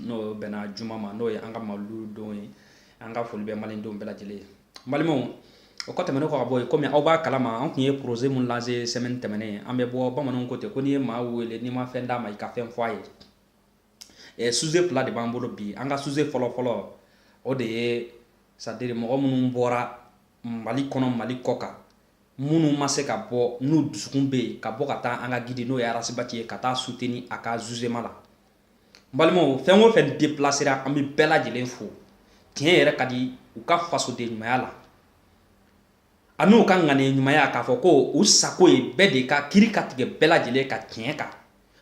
n'o bɛnna juma ma n'o ye an ka mawulu don ye an ka foli bɛ maliden bɛɛ lajɛlen ye balimaw o kɔ tɛmɛnen kɔ ka bɔ yen kɔmi aw b'a kalama an tun ye proze min lanse sɛmɛni tɛmɛnen an bɛ bɔ bamananw ko ten ko n'i ye maa wele n'i ma fɛn d'a ma i ka fɛn fɔ a ye suze fila de b'an bolo bi an ka suze fɔlɔ fɔlɔ o de ye sadiri mɔgɔ minnu bɔra mali kɔnɔ mali kɔkan minnu ma se ka bɔ n'u dusukun bɛ yen ka bɔ ka taa an ka gidi n'o ye arasibati ye ka taa suteni a ka zuzema la n balimaw fɛn o fɛn depilasera an bɛ bɛɛ lajɛlen fo tiɲɛ yɛrɛ ka di u ka fasoden ɲumanya la ani u ka ŋaniya ɲumanya k'a fɔ ko u sago ye bɛɛ de ka kiri ka tigɛ bɛɛ lajɛlen ka tiɲɛ kan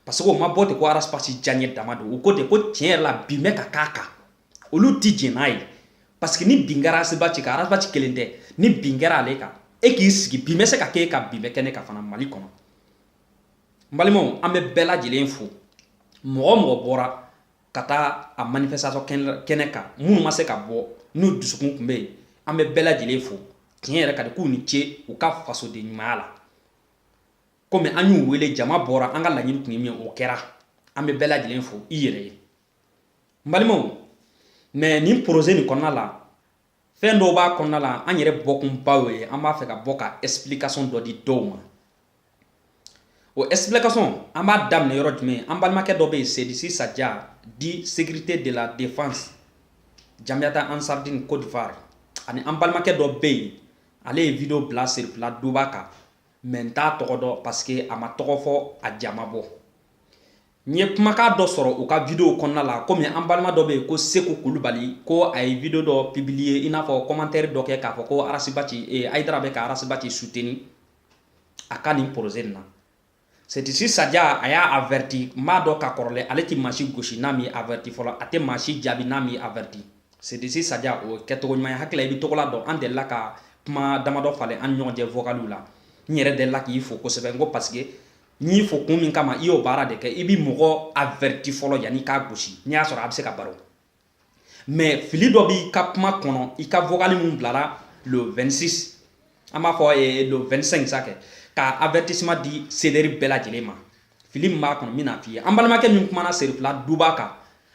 parce que o ma bɔ ten ko arasibati diyaɲɛ dama don u ko ten ko tiɲɛ yɛrɛ la bin bɛ ka k'a kan olu ti jɛn n'a ye parce que ni bin kɛra arasibati kan arasibati kelen tɛ ni bin kɛra ale kan e k'i sigi bin bɛ se ka kɛ e kan bin bɛ kɛ ne kan fana mali kɔnɔ n balimaw an bɛ bɛɛ lajɛlen fo mɔgɔ o mɔgɔ bɔra ka taa a manifestation kɛnɛ kan minnu ma se ka bɔ n'u dusukun tun bɛ yen an bɛ bɛɛ lajɛlen fo tiɲɛ yɛrɛ ka di k'u ni ce u ka fasoden ɲumanya la komi an y'u wele jama bɔra an ka laɲini tun ye min o kɛra an bɛ bɛɛ lajɛlen fo i yɛrɛ ye n balimaw mɛ nin poroze nin kɔnɔna la fɛn dɔw b'a kɔnɔna la an yɛrɛ bɔkunba y'o ye an b'a fɛ ka bɔ ka explication dɔ di dɔw ma o explication an b'a daminɛ yɔrɔ jumɛn an balimakɛ dɔ bɛ yen sedisi saja di sécurité de la défense jamiyata ansardine côte d'ivoire ani an balimakɛ dɔ bɛ yen ale ye video bila serifila duba kan mɛ n t'a tɔgɔ dɔn parce que a m'a tɔgɔ fɔ a ja ma bɔ N ye kumakan dɔ sɔrɔ u ka video kɔnɔna la komi an balima dɔ bɛ yen ko Seku Kulubali ko a ye video dɔ publier i n'a fɔ commentaire dɔ kɛ k'a fɔ ko Arasibaci eh, Ayidara bɛ ka Arasibaci soutenir a ka nin projet nin na Setisi Saja a y'a averti n b'a dɔn ka kɔrɔlen ale tɛ maa si gosi n'a m'i averti fɔlɔ a tɛ maa si jaabi n'a m'i averti Setisi Saja o ye kɛcogo ɲuman ye hakili la i bɛ tɔgɔla dɔn an delila ka kuma damadɔ falen an ni ɲɔgɔn cɛ vocaliw la n yɛrɛ delila k'i fo kosɛbɛ n ko parce que n y'i fo kun min kama i y'o baara de kɛ i bi mɔgɔ averti fɔlɔ yanni k'a gosi n'i y'a sɔrɔ a bɛ se ka baro mɛ fili dɔ b'i ka kuma kɔnɔ i ka vocali min bilara le 26 an b'a fɔ eh, le 25 sa kɛ ka avertissement di seleri bɛɛ lajɛlen ma fili min b'a kɔnɔ n bɛna f'i ye an balimakɛ min kumana serifila duba kan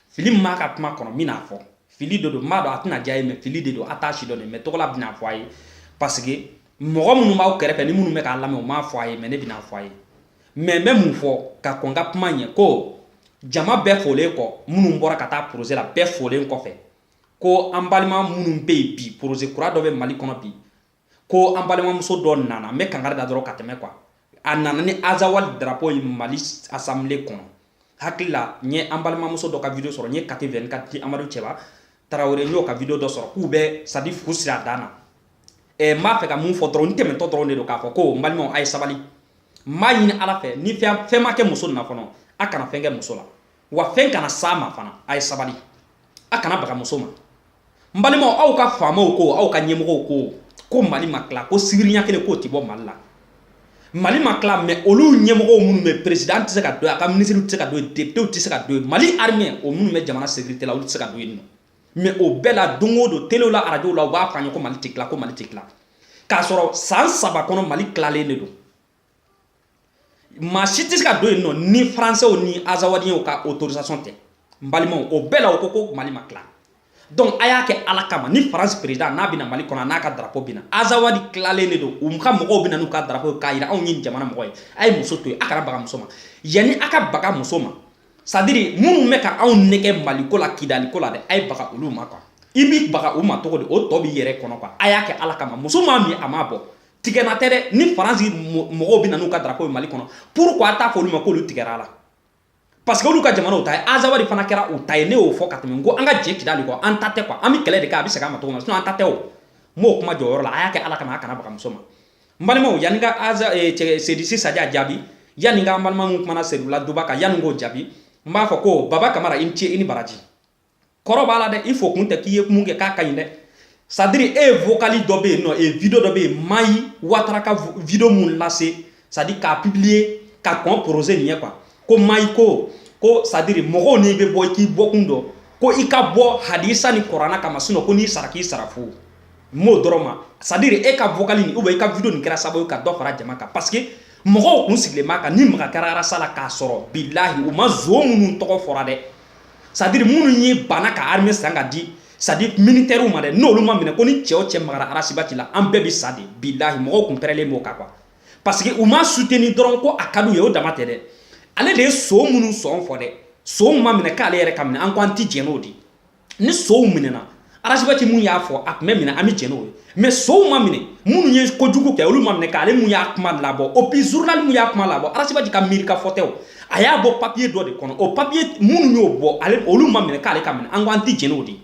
fili min b'a ka kuma kɔnɔ n bɛna fɔ fili de don n b'a dɔn a tɛna diy'a ye mɛ fili de don a t'a si dɔn de mɛ tɔgɔla bɛna fɔ a ye parce que mɔgɔ minnu b'aw kɛrɛfɛ ni minnu bɛ k'a lamɛn u m'a fɔ a ye mɛ ne bɛna fɔ a ye mɛ n bɛ mun fɔ ka kɔn n ka kuma ɲɛ ko jama bɛɛ folen kɔ minnu bɔra ka taa poroze la bɛɛ folen kɔfɛ ko an balima minnu bɛ yen bi poroze kura dɔ bɛ mali kɔnɔ bi ko an balimamuso dɔ nana n bɛ kangari da dɔrɔn ka tɛmɛ ko a a nana ni azawadi darapo ye mali asamble kɔnɔ hakili la n ye an balimamuso dɔ ka video sɔrɔ n ye kati vingt-quatre amadu cɛba tarawele n y'o ka video dɔ sɔrɔ k'u bɛ c'est-à-dire fu siri a dan na eh, n b'a fɛ ka mun fɔ dɔrɔn n tɛmɛntɔ dɔrɔn de don k'a fɔ ko n balimaw a ye sabali n b'a ɲini ala fɛ ni fɛn ma kɛ muso nin na fɔlɔ a kana fɛn kɛ muso la wa fɛn kana s'a ma fana a ye sabali a kana baga muso ma n balimaw aw ka faamaw ko aw ka ɲɛmɔgɔw ko ko mali ma tila ko sibiriɲa kelen k'o ti bɔ mali la mali ma tila mɛ olu ɲɛmɔgɔw minnu bɛ perezidan tɛ se ka don a ka minisiriw tɛ se ka don depitew tɛ se ka don mali arime o minnu bɛ jamana sekirite la olu tɛ se ka don yen nɔ mɛ o bɛɛ la don o don telew la arajow la u b'a fɔ an ye ko mali tɛ tila ko mali tɛ tila k'a sɔrɔ san saba kɔnɔ mali tilalen de don maa si tɛ se ka don yen nɔ ni faransɛw ni azawadiyew ka autorisation tɛ n balimaw o bɛɛ la u ko ko mali ma tila donc a y'a kɛ ala kama ni faransi président n'a bɛ na mali kɔnɔ n'a ka drapo bɛ na azawadi tilalen de don u ka mɔgɔw bɛ na n'u ka drapo ye k'a jira anw ye jamana mɔgɔ ye a ye muso to yen a kana baga muso ma yanni a ka baga muso ma c'est-à-dire minnu bɛ ka anw nɛgɛn maliko la kidaliko la dɛ a ye baga olu ma quoi i b'i baga u ma cogo di o tɔ b'i yɛrɛ kɔnɔ quoi a y'a kɛ ala kama muso m'a min a m'a bɔn tigɛna tɛ dɛ ni faransi mɔgɔw bɛ na n'u ka darapo ye mali kɔnɔ pourquoi a t'a fɔ olu ma k'olu tigɛra a la parce que olu ka jamanaw ta ye azawadi fana kɛra u ta ye ne y'o fɔ ka tɛmɛ n ko an ka jɛ kidali kɔ an ta tɛ quoi an bɛ kɛlɛ de kɛ a bɛ segin a ma cogo min na sinon an ta tɛ o n b'o kuma jɔyɔrɔ la a y'a kɛ ala kama a kana baga muso ma n balimaw yanni ka aza eh, sedisi saja jaabi yanni ka an balima minnu kumana serula duba kan yanni k'o jaabi n b'a fɔ ko baba kamara i ni ce i ni baraji kɔrɔ b'a la dɛ i fo kun tɛ k'i ye mun kɛ k'a ka ɲi dɛ c'est-à-dire e ye vocali dɔ bɛ yen nɔ e video dɔ bɛ yen mayi watara ka video mun lase c'est-à-dire k'a publier ka kɔn projet nin ɲɛ quoi ko mayi ko ko c'est-à-dire mɔgɔw n'i bɛ bɔ i k'i bɔkun dɔn ko i ka bɔ hadisa ni kuranɛ kama sinɔn ko n'i sara k'i sara fu m'o dɔrɔn ma c'est-à-dire e ka vocali nin ou bien i ka video nin kɛra sababu ye ka dɔ fara jama kan parce que mɔgɔw kun sigilen b'a kan ni maga kɛra arasi la k'a sɔrɔ bilahi u ma zon minnu tɔgɔ fɔra dɛ c'est-à-dire minnu y'u ban ka arme san ka di c'est-à-dire militɛriw ma dɛ n'olu ma minɛ ko ni cɛ o cɛ magara arasibati la an bɛɛ bɛ sa de bilahi mɔgɔw tun pɛrɛlen b'o kan quoi parce que u m'a suteni dɔrɔn ko a ka di u ye o dama tɛ dɛ ale de ye son minnu sɔn fɔ dɛ sonw ma minɛ k'ale yɛrɛ ka minɛ an ko an tɛ jɛn n'o de ni sonw minɛna arasibati mun y'a fɔ a tun bɛ minɛ an bɛ jɛn n'o ye mɛ sonw ma minɛ minnu ye kojugu kɛ olu ma minɛ k'ale mun y'a kuma labɔ et puis zurunali mun y'a kuma labɔ arasibati ka miiri ka fɔ tɛ o a y'a bɔ papiye dɔ de kɔnɔ o papiye minnu y'o bɔ ale olu ma minɛ k'ale ka minɛ an ko an tɛ jɛn n'o de ye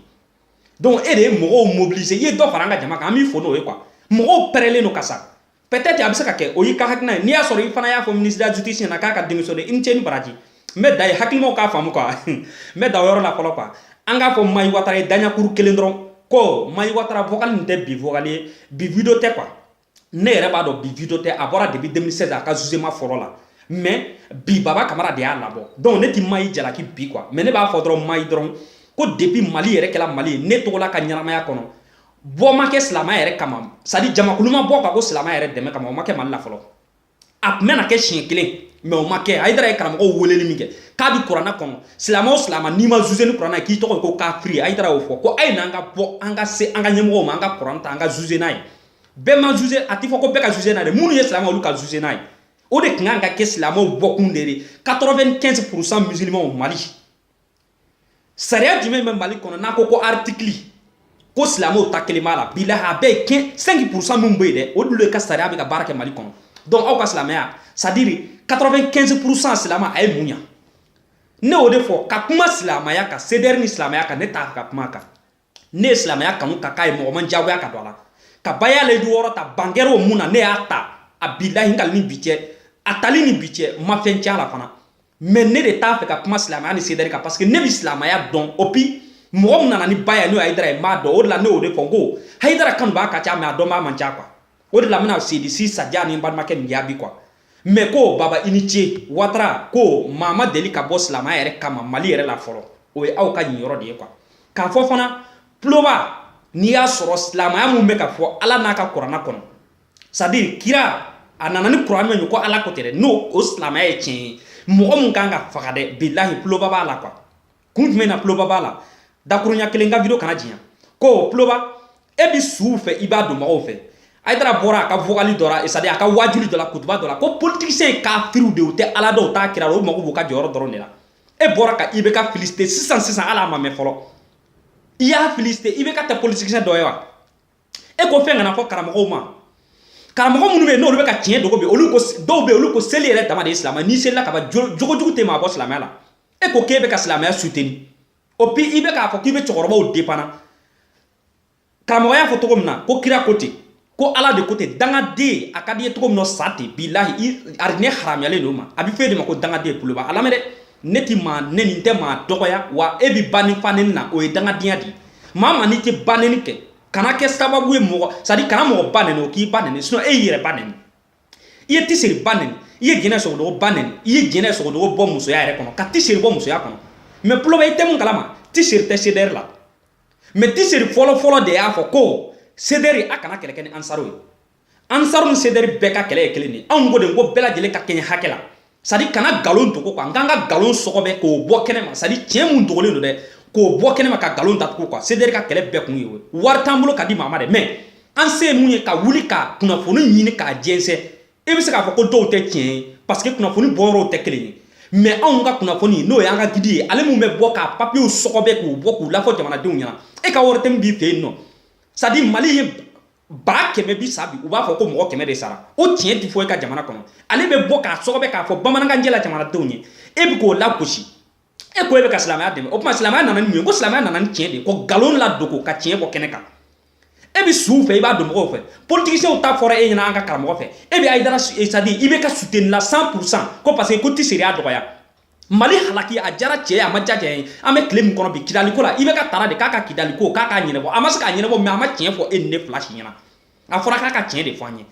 donc e de ye mɔgɔw mobiliser i ye dɔ fara an ka jama kan an b'i fo n'o ye quoi mɔgɔw pɛrɛlen don ka sa peut-être a bɛ se ka kɛ o y'i ka hakilina ye n'i y'a sɔrɔ i fana y'a fɔ ministre de la justice ɲɛna k'a ka démissionner i ni ce i ni baraji n bɛ dan yen hakilimaw k'a faamu quoi n bɛ dan o yɔrɔ la fɔlɔ quoi an k'a fɔ Mayi Watara ye daɲakuru kelen dɔrɔn ko Mayi Watara vocal nin tɛ bi vocal ye bi video tɛ quoi ne yɛrɛ b'a dɔn bi video tɛ a bɔra depuis 2016 a ka jugement fɔlɔ la mais bi Baba Kamara de y'a labɔ donc ne ti Mayi jalaki bi quoi mais ne b'a fɔ dɔrɔn Mayi dɔrɔn ko depuis Mali yɛrɛ kɛla Mali ye ne tɔgɔla ka ɲɛnamaya kɔnɔ bɔ ma kɛ silamɛya yɛrɛ kama c'est-à-dire jamakulu ma bɔ ka ko silamɛya yɛrɛ dɛmɛ kama o ma kɛ mali la fɔlɔ a tun bɛna kɛ siɲɛ kelen mais o ma kɛ hayidara ye karamɔgɔw weleli min kɛ k'a bi kurana kɔnɔ silamɛ o silamɛ n'i ma zuze ni kurana ye k'i tɔgɔ ye ko kafiri hayidara y'o fɔ ko a ye n'an ka bɔ an ka se an ka ɲɛmɔgɔw ma an ka kuran ta an ka zuze n'a ye bɛɛ ma zuze a tɛ fɔ ko bɛɛ ka zuze n'a ye minnu ye silamɛ olu ka zuze n'a ye o de tun kan ka kɛ silamɛw bɔkun de ye 95 pourcent musulmanw mali sariya jumɛn bɛ mali kɔnɔ n'a ko ko artikili ko silamɛw ta kelen b'a la bilahi a bɛɛ kɛ 5 pourcent minnu bɛ yen dɛ olu de ka sariya bɛ ka baara kɛ mali kɔnɔ donc aw ka silamɛya c'est-à-dire 95 pourcent silamɛ a ye mun ɲa ne y'o de fɔ ka kuma silamɛya kan CDR ni silamɛya kan ne t'a fɛ ka kuma a kan ne ye silamɛya kanu ka k'a ye mɔgɔ ma n diyagoya ka don a la ka baya layidu wɔɔrɔ ta bangɛrɛ o mun na ne y'a ta a bilahi n kali ni bi cɛ a tali ni bi cɛ n ma fɛn cɛn a la fana mais ne de t'a fɛ ka kuma silamɛya ni CDR kan parce que ne bi silamɛya dɔn et puis mɔgɔ min nana ni baya ye n'o ye hayidara ye n b'a dɔn o de la ne y'o de fɔ n ko hayidara kanubaa ka ca mais a dɔnbaa man ca quoi o de la n bɛna sedisi saja ni balimakɛ nin jaabi quoi mɛ ko baba i ni ce watara ko maa ma deli ka bɔ silamɛya yɛrɛ kama mali yɛrɛ la fɔlɔ o ye aw ka nin yɔrɔ de ye quoi k'a fɔ fana tuloba n'i y'a sɔrɔ silamɛya min bɛ ka fɔ ala n'a ka kurana kɔnɔ c'est-à-dire kira a nana ni kuran min ye ko ala ko ten dɛ ni o silamɛya ye tiɲɛ ye mɔgɔ min kan ka faga dɛ bilahi tuloba b'a la quoi kun jumɛn na tuloba b'a la dakurunya kelen quoi video kana janya ko tuloba e bi suw fɛ i b'a don mɔgɔw fɛ hayidara bɔra a ka vogali dɔ la c'est-à-dire a ka waajuli dɔ la kutuba dɔ la ko politiciens ye kafiriw de u tɛ ala dɔn u t'a kira u mago b'u ka jɔyɔrɔ dɔrɔn de la e bɔra ka IBK féliciter sisan sisan hali a ma mɛn fɔlɔ i y'a féliciter IBK tɛ politicien dɔ ye wa e ko fɛn kana fɔ karamɔgɔw ma karamɔgɔ minnu bɛ yen n'olu bɛ ka tiɲɛ dogo bi olu ko dɔw bɛ yen olu ko seli yɛrɛ dama de ye silamɛ n'i selila ka ban jogo jugu tɛ maa bɔ silamɛya la e ko k'e bɛ ka silamɛya soutenir o bi i bɛ k'a fɔ k'i bɛ cɛkɔrɔbaw depanna karamɔgɔ y'a fɔ cogo min na ko kira ko ten ko ala de ko ten dangaden a ka di i ye cogo min na sa ten bilahi arijinɛ haramuyalen don i ma a bɛ f'e de ma ko dangaden tuloba a lamɛn dɛ ne ti maa neni n tɛ maa dɔgɔya wa e bɛ ba ni fa neni na o ye dangadenya de ye maa maa n'i tɛ baneni kɛ kana kɛ sababu ye mɔgɔ c'est-à-dire kana mɔgɔ ba neni o k'i ba neni sinon e y'i yɛrɛ ba neni i ye tisiri ba nɛni i ye jɛnɛ sogodogo ba nɛni i ye jɛnɛ sogodogo bɔ musoya yɛrɛ kɔnɔ ka tisiri bɔ musoya kɔnɔ mɛ tuloba i tɛ mun kalama tisiri tɛ sedɛri la mɛ tisiri fɔlɔfɔlɔ de y'a fɔ ko sedɛri a kana kɛlɛ kɛ ni ansaru ye ansaru ni sedɛri bɛɛ ka kɛlɛ ye kelen de anw ko de ko bɛɛ lajɛlen ka kɛɲɛ hakɛ la sadi kana nkalon dogo kuwa nk'an ka nkalon sɔgɔbɛ k'o bɔ kɛnɛ ma sadi tiɲɛ mun dogolen don dɛ k'o bɔ kɛnɛ ma ka nkalon datugu kuwa sedɛri ka kɛlɛ bɛɛ kun ye o wari t'an bolo ka di maa ma dɛ mɛ an se ye mun ye ka wuli ka kunnafoni ɲini k'a jɛnsɛn i bɛ se k'a fɔ ko dɔw tɛ tiɲɛ ye parce que kunnafoni bɔyɔrɔw tɛ kelen ye mɛ anw ka kunnafoni n'o y'an ka gidi ye ale min bɛ bɔ k'a papiyew sɔgɔbɛ k'u bɔ k'u lafɔ jamanadenw ɲɛna e ka wari tɛ min b'i fɛ yen nɔ sadi mali ye ba kɛmɛ bi sa bi u b'a fɔ ko mɔgɔ kɛmɛ de sara o tiɲɛ ti fɔ e ka jamana kɔnɔ ale bɛ bɔ k'a sɔgɔbɛ k'a fɔ bamanankanjɛ la jamanadenw ye e bɛ k'o lagosi e ko e bɛ ka silamɛya dɛmɛ o tuma silamɛya nana ni mun ye ko silamɛya nana ni tiɲɛ de ye ko nkalon ladogo ka tiɲɛ bɔ kɛnɛ kan e bɛ suw fɛ i b'a dɔn mɔgɔw fɛ politiciens ta fɔra e ɲɛna an ka karamɔgɔ fɛ e bɛ ayidara sadi i bɛ k'a soutenir la 100 pour cent ko parce que ko ti sariya dɔgɔya mali halaki a jara cɛ a ma ja cɛ ye an bɛ tile min kɔnɔ bi kidaliko la ibeka taara de k'a ka kidaliko k'a k'a ɲɛnabɔ a ma se k'a ɲɛnabɔ mɛ a ma tiɲɛ fɔ e ni ne fila si ɲɛna a fɔra k'a ka tiɲɛ de fɔ an ye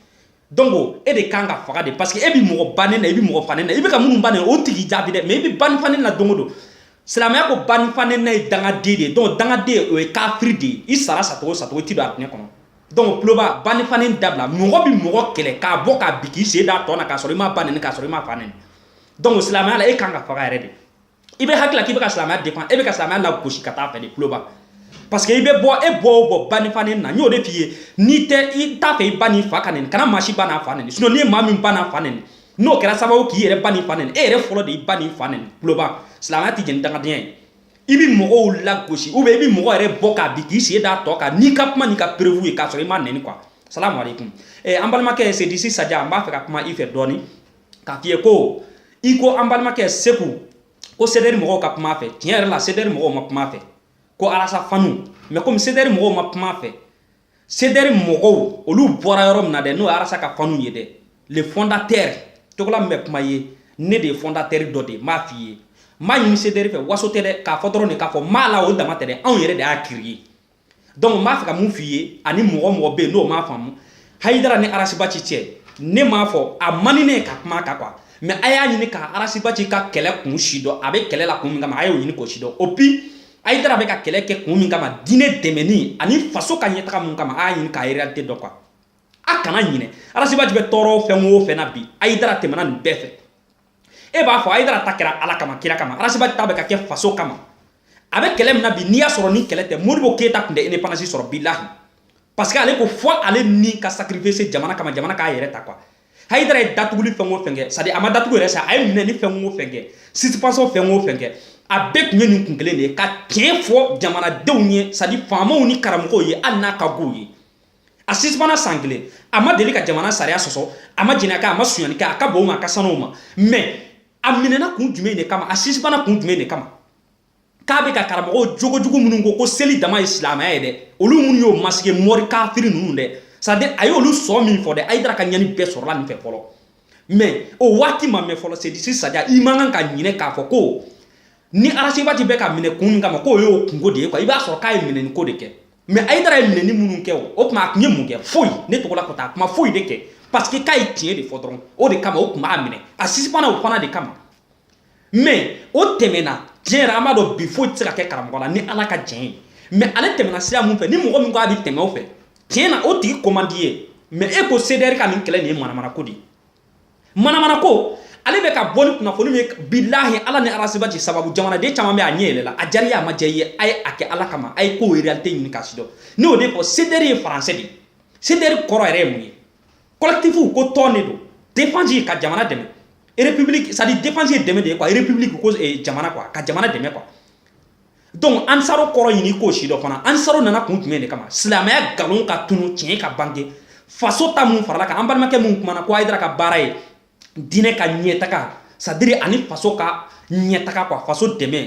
donc e de kan ka faga de parce que e bɛ mɔgɔ ba nɛni na i bɛ mɔgɔ fa nɛni na i bɛ ka minnu ba nɛni o tigi jaabi dɛ mɛ i bɛ ba ni fa nɛni na don o don silamɛya ko ba ni fa nɛnina ye dangaden de ye donc dangaden o ye kafiri de ye i sara sacogo sacogo i ti don alijinɛ kɔnɔ donc tuloba ba ni fa nɛni dabila mɔgɔ bɛ mɔgɔ kɛlɛ k'a bɔ k'a bin k'i sen d'a tɔn na k'a sɔrɔ i m'a ba nɛni k'a sɔrɔ i m'a fa nɛni dɔnku silamɛya la e kan ka faga yɛrɛ de i bɛ hakilila k'i bɛ ka silamɛya défendre e bɛ ka silamɛya lagosi ka taa fɛ de tuloba parce que i bɛ bɔ e bɔ o bɔ ba ni fa nɛni na n y'o de f'i ye n'i tɛ i t'a fɛ i ba n'i fa ka nɛni kana maa si ba n'a fa nɛni sinɔn n'i ye maa min ba n'a fa nɛni n'o kɛra sababu k'i yɛrɛ ba n'i fa nɛni e yɛrɛ fɔlɔ de i ba n'i fa nɛni tuloba silamɛya tɛ jɛ ni dangadenya ye i bɛ mɔgɔw lagosi ou bien i bɛ mɔgɔ yɛrɛ bɔ k'a bin k'i sen d'a tɔn kan n'i ka kuma n'i ka perewu ye k'a sɔrɔ i m'a nɛni quoi salamu aleykum eh, an balimakɛ sedisi saja n b'a fɛ ka kuma i fɛ dɔɔni k'a f'i ye ko i ko an balimakɛ seku ko sedɛri mɔgɔw ka kuma fɛ tiɲɛ yɛrɛ la sedɛri mɔgɔw ma kuma fɛ ko arasi fanu mɛ komi sedɛri mɔgɔw ma kuma fɛ sedɛri mɔgɔw olu bɔra yɔrɔ min na dɛ n'o arasi ka fanu ye dɛ le fondatɛri togola min bɛ kuma ye ne de ye fondatɛri dɔ de ye m'a f'i ye m'a ɲini sedɛri fɛ waso tɛ dɛ k'a fɔ dɔrɔn de k'a fɔ m'a la o dama tɛ dɛ anw yɛrɛ de y'a créer dɔnku n b'a fɛ ka mun f' i ye ani mɔgɔ mɔgɔ bɛ yen n'o m'a faamu ayidara ni arasibaci cɛ ne m'a fɔ a man ni ne ka kuma ka kuwa mɛ a y'a ɲini ka arasibaci ka kɛlɛ kun sidɔn a bɛ kɛlɛ la kun min kama a y'o ɲini k'o sidɔn o bi ayidara bɛ ka kɛlɛ kɛ kun min kama diinɛ dɛmɛni ani faso ka ɲɛtaga min kama a'a ɲini k'a yɛrɛ tɛ dɔ kuwa a kana ɲinɛ arasibaci bɛ tɔɔrɔ fɛn wo fɛn bi ayidara tɛmɛna nin bɛɛ fɛ e b'a fɔ hayidara ta kɛra ala kama kira kama arasiba ta bɛ ka kɛ faso kama a bɛ kɛlɛ min na bi n'i y'a sɔrɔ ni kɛlɛ tɛ modibo keyita tun tɛ independance sɔrɔ bilahi parce que ale ko fɔ ale ni ka sacrifice jamana kama jamana k'a yɛrɛ ta quoi hayidara ye datuguli fɛn o fɛn kɛ sadi a ma datugu yɛrɛ sa a ye minɛni fɛn o fɛn kɛ suspension fɛn o fɛn kɛ a bɛɛ tun ye nin kun kelen de ye ka tiɲɛ fɔ jamanadenw ye sadi faamaw ni karamɔgɔw ye hali n'a ka go u ye a sisipana san kelen a ma deli ka jamana sariya sɔsɔ a ma jɛnɛ kɛ a ma sonyani kɛ a ka bon ma a ka sanu ma mɛ a minɛna kun jumɛn de kama a sisipana kun jumɛn de kama k'a bɛ ka karamɔgɔw jogojugu minnu ko ko seli dama ye silamɛya ye dɛ olu minnu y'o masige mɔri kafiri ninnu dɛ sadi a ye olu sɔn min fɔ dɛ hayidara ka ɲani bɛɛ sɔrɔla nin fɛ fɔlɔ mɛ o waati ma mɛn fɔlɔ sedisi sadiri i man kan ka ɲinɛ k'a fɔ ko ni arasibati bɛ ka minɛ kun min kama k'o y'o kunko de ye kuwa i b'a sɔrɔ k'a ye minɛni ko de kɛ mɛ hayidara ye minɛni minnu kɛ o o tuma a tun ye mun kɛ foyi ne togola ko a tun ma foyi de kɛ parce que k'a ye tiɲɛ de fɔ dɔrɔn o de kama o tun b'a minɛ a sisipana o fana de kama mɛ o tɛmɛna tiɲɛ yɛrɛ an b'a dɔn bi foyi tɛ se ka kɛ karamɔgɔ la ni ala ka tiɲɛ ye mɛ ale tɛmɛna sira mun fɛ ni mɔgɔ min ko a bɛ tɛmɛ o fɛ tiɲɛ na o tigi ko man di ye mɛ e ko sedɛri ka nin kɛlɛ nin ye manamana ko de ye manamana ko ale bɛ ka bɔ ni kunnafoni min ye bilahi ala ni arasibati sababu jamanaden caman bɛ a ɲɛ yɛlɛla a jari a ma jɛ ye a ye a kɛ ala kama a ye ko réalité ɲini k'a sidɔn ne y'o de fɔ sedɛri ye faransɛ de ye sedɛri kɔrɔ yɛrɛ ye mun ye collectif ko tɔn de don défense ye ka jamana dɛmɛ république c'est à dire défense ye dɛmɛ de ye quoi république ko eh, jamana quoi ka jamana dɛmɛ quoi donc ansaro kɔrɔ ɲini k'o sidɔn fana ansaro nana kun jumɛn de kama silamɛya nkalon ka tunu tiɲɛ ka bange faso ta mun farala kan an balimakɛ mun kumana ko hayidara ka baara ye diinɛ ka ɲɛtaga sadiri ani faso ka ɲɛtaga kuwa faso dɛmɛ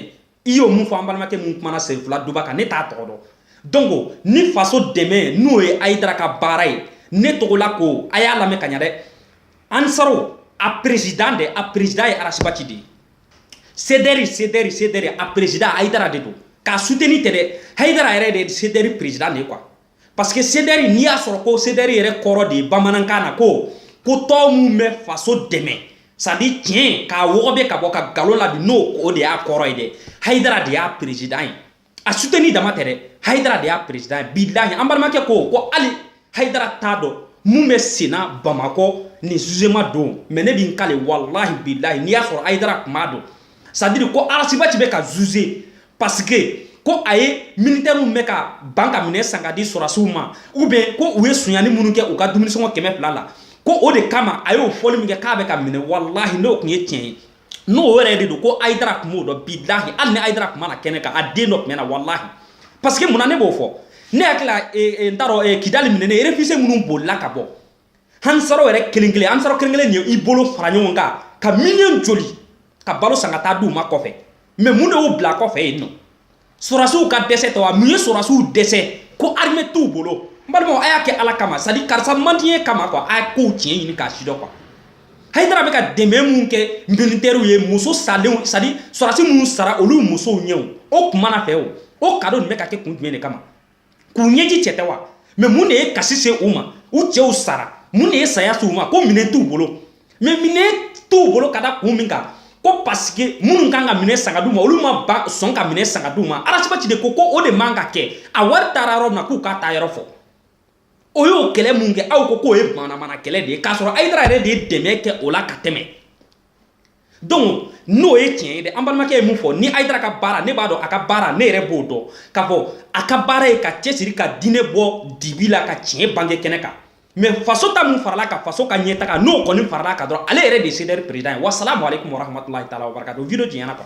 i y'o mun fɔ an balimakɛ mun kumana senfila duba kan ne t'a tɔgɔ dɔn donc ni faso dɛmɛ n'o ye hayidara ka baara ye ne togola ko a y'a lamɛn ka ɲa dɛ ansaro a président de a président ye arasibati de ye Sedɛri sedɛri sedɛri a perezidan hayidara de don k'a suteni tɛ dɛ hayidara yɛrɛ de sedɛri perezidan de ye kuwa parce que sedɛri n'i y'a sɔrɔ ko sedɛri yɛrɛ kɔrɔ de ye bamanankan na ko ko tɔn min bɛ faso dɛmɛ sadi tiɲɛ k'a wɔgɔbɛ ka bɔ ka nkalon labin n'o o de y'a kɔrɔ ye dɛ hayidara de y'a perezidan ye a suteni dama tɛ dɛ hayidara de y'a perezidan ye bilahi an balimakɛ ko ko hali hayidara t'a dɔn mun bɛ senna bamakɔ nin zuzeman don mɛ ne b'i kale walahi bilahi n'i y'a sɔrɔ hayidara tun b'a dɔn sadiri ko arasibati bɛ ka zuze pasike ko a ye militɛriw bɛ ka ban ka minɛn san k'a di sɔrasiw ma u bɛ ko u ye sunyani minnu kɛ u ka dumunisɔngɔ kɛmɛ fila la ko o de kama a y'o fɔli min kɛ k'a bɛ ka minɛ walahi n'o tun ye tiɲɛ ye n'o yɛrɛ de don ko ayidara tun b'o dɔn bilahi hali ni ayidara tun ma na kɛnɛ kan a den dɔ tun bɛ na walahi parce que munna ne b'o fɔ ne hakili la eh, eh, n t'a dɔn eh, kidali minɛnen réfugiés minnu bolila ka bɔ ansaru yɛrɛ kelen kelen ansaru kelen kelen nin i bolo fara ɲɔgɔn kan ka miliyɔn joli ka balo san ka taa d'u ma kɔfɛ mɛ mun de y'u bila kɔfɛ yen nɔ Sɔrɔsiw ka dɛsɛ tɛ wa mun ye sɔrɔsiw dɛsɛ ko armes t'u bolo n balimaw a y'a kɛ Ala kama c'est à dire karisa man di n ye kama quoi a ye kow tiɲɛ ɲini k'a sidɔn quoi Hayidara bɛ ka dɛmɛ min kɛ militaires ye muso salenw c'est à dire sɔrɔsi minnu sara olu musow ɲɛw o tuma na fɛ o o cadeau nin bɛ ka kɛ kun jumɛn de kama k'u ɲɛji cɛ tɛ wa mɛ mun de ye kasi se u ma u cɛw sara mun de ye saya se u ma ko minɛn t'u bolo mɛ minɛn t'u bolo ka da kun min kan ko pasike minnu kan ka minɛn san ka d'u ma olu ma sɔn ka minɛn san ka d'u ma Rasi Bati de ko ko o de man ka kɛ a wari taara yɔrɔ min na k'u k'a taayɔrɔ fɔ o y'o kɛlɛ min kɛ aw ko k'o ye manamana kɛlɛ de ye k'a sɔrɔ ayidara yɛrɛ de ye dɛmɛ kɛ o la ka tɛmɛ donc n'o ye tiɲɛ ye dɛ an balimakɛ ye min fɔ ni ayidara ka baara ne b'a dɔn a ka baara ne yɛrɛ b'o dɔn k'a fɔ a ka baara ye ka cɛsiri ka diinɛ bɔ dibi la ka tiɲɛ bange kɛnɛ kan mɛ faso ta min faral'a kan faso ka ɲɛtaga n'o kɔni faral'a kan dɔrɔn ale yɛrɛ de ye CDR peresidan ye wasalamu aleykum warahmatulahi taala wabarakatu video janyana quoi